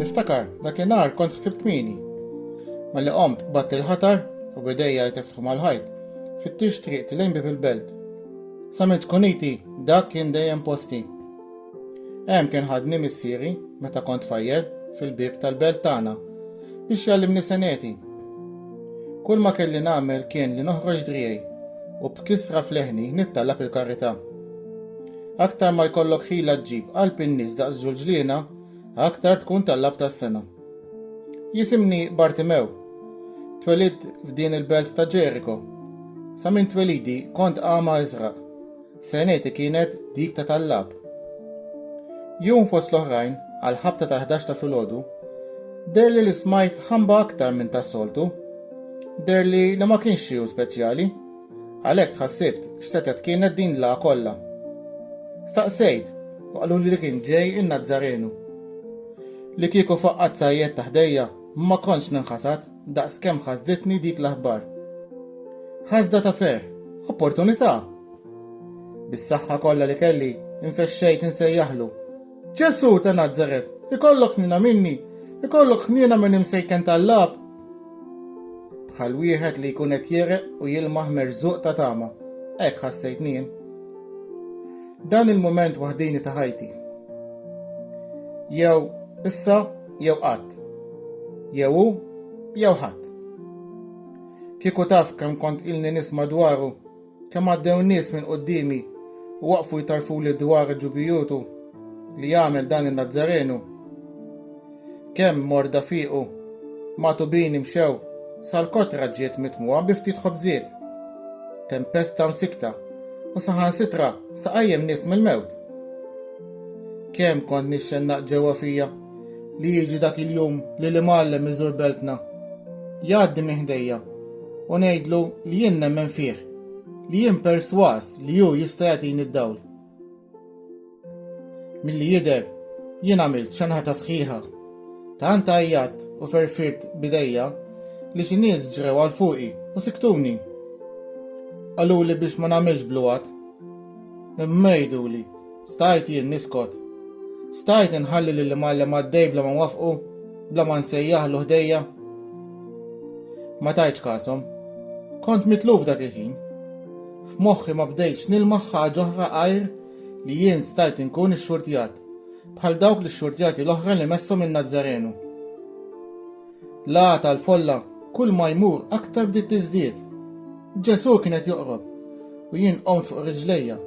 Niftakar, dakinhar kont ħsibt kmini. Malli qomt batt il-ħatar u bidejja jtefħu mal-ħajt. Fittix triq tilejn bib il-belt. Sament kuniti dak kien dejjem posti. Hemm kien ħadni missieri meta kont fajjel fil-bib tal-belt tagħna biex jallimni seneti. Kull ma kelli nagħmel kien li noħroġ driej u b'kisra fleħni nittalab il-karità. Aktar ma jkollok ħila ġġib qalb in-nies daqs ġulġliena, aktar tkun tal-lab tas-sena. Jisimni Bartimew. Twelidt f'din il-belt ta' Ġeriko. Sa minn twelidi kont għama iżraq. Seneti kienet dik ta' tal-lab. Jum fost l-oħrajn, għal ħabta tal-11 ta' filgħodu, derli li smajt ħamba aktar minn tas-soltu. Derli li ma kienx xi speċjali. Għalhekk tħassibt x'setgħet kienet din l-għa kollha. Staqsejt u qaluli li kien ġej in-Nazzarenu. Li kieku faqqat sajjed ta' ħdejja ma kontx ninħasad daqs kemm ħasditni dik l-aħbar. Ħasda ta' ferħ, opportunità! Bis-saħħa kollha li kelli, infexxejt insejjaħlu Ġesu ta' Nazaret, ikollok ħnina minni, ikollok ħnina minn imsejken tal-lab. Bħal wieħed li jkun qed jereq u jilmaħ merżuq ta' tama. Hekk ħassejt nien. Dan il-moment waħdini ta' ħajti. Jew issa jew qatt. Jew hu jew ħadd. Kieku taf kemm kont ilni nisma' dwaru Kemm għaddew nies minn quddiemi u waqfu jtarfuli dwar ġubijutu li għamel dan in-Nazzarenu. Kemm morda fiequ, magħtubini mxew, sal-kotra ġiet mitmugħa bi ftit ħobżiet. Tempesta msikta u saħansitra sa qajjem nies mill-mewt. Kemm kont nixxennaq ġewwa fija. li jiġi dak il-jum li l-imgħallem iżur beltna. Jgħaddi minn ħdejja u ngħidlu li jien nemmen fih, li jien perswas li hu jista' jagħtini d-dawl. Milli jidher, jien għamilt xanħata sħiħa. Tant għajjat u ferfirt bidejja li xi nies ġrew għal fuqi u siktuni. Qaluli biex ma nagħmilx bluwat. Imma jgħiduli Stajt jien niskot? Stajt inħalli lil imgħallem għaddej bla ma nwaffqu, bla ma nsejjaħlu ħdejja? Ma tajtx kasom. Kont mitluf dak il-ħin. F'moħħi ma bdejtx nilmaħ ħaġa oħra għajr li jien stajt inkun ixxurtjat, bħal dawk l-ixxurtjati l-oħra li messhom in-Nazzarenu. L-għagħa tal-folla kull ma jmur aktar bdiet tiżdied. Ġesù kien qed joqrob u jien qomt fuq riġlejja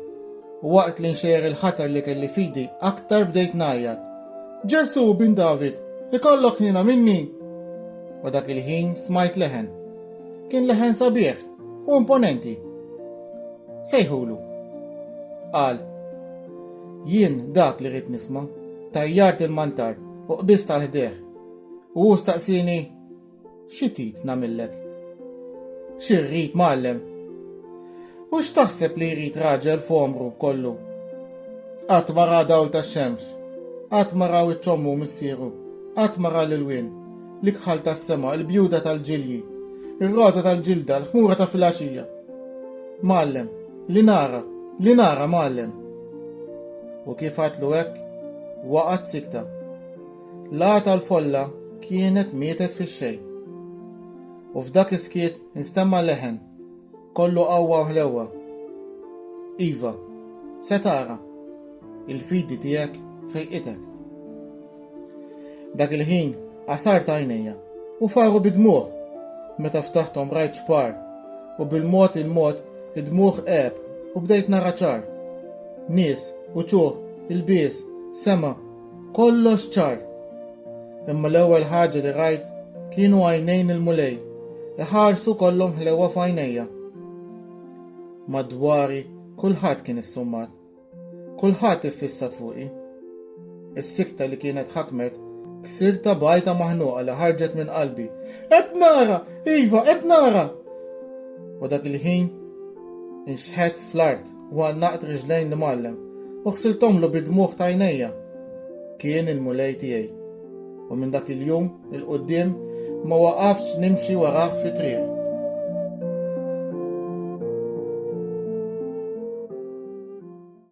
u waqt li nxejjer il-ħatar li kelli f'idi aktar bdejt ngħajjat, Ġesù, Bin David, ikollok ħniena minni! U dak il-ħin smajt leħen. Kien leħen sabiħ u imponenti. Sejħulu. Qal, Jien dak li rrid nisma'. Tajjart il-mantar u qbiżt għal ħdejh. U hu staqsieni, Xi trid nagħmillek? Xi rrid mgħallem? U x'taħseb li jrid raġel f'għomru kollu? Qatt ma ra dawl tax-xemx, qatt ma raw iċ-ċommu missieru, qatt ma ra l-ilwien, l-ikħal tas-sema, il-bjuda tal-ġilji, ir-roża tal-ġilda, l-ħmura ta' filgħaxija. Mgħallem, li nara, li nara mgħallem. U kif għatlu hekk, waqgħet sikta. L-għagħa tal-folla kienet mietet fix-xejn. U f'dak is-skiet instemma leħen, kollu qawwa u ħlewwa. Iva, se tara, il-fidi tiegħek fejqitek. Dak il-ħin qasar ta' għajnejja u faru bidmuħ meta ftaħthom rajt xpar u bil-mod il-mod id-dmuħ qeb u bdejt nara ċar. Nies, uċuħ, il-bies, sema Kollox ċar. Imma l-ewwel ħaġa li rajt kienu għajnejn il-Mulej, iħarsu kollhom ħlewwa f'għajnejja. Madwari kulħadd kien issummat. Kulħadd iffissat fuqi. Is-sikta li kienet ħakmet ksirta bajta maħnuqa li ħarġet minn qalbi. Qed nara, iva, qed nara! U dak il-ħin inxħet fl-art. u għannaqt riġlejn l-Imgħallem u ħsilthomlu bid-dmugħ t'għajnejja. Kien il-Mulej tiegħi. U minn dak il-jum 'il quddiem ma waqaftx nimxi warah fi triq.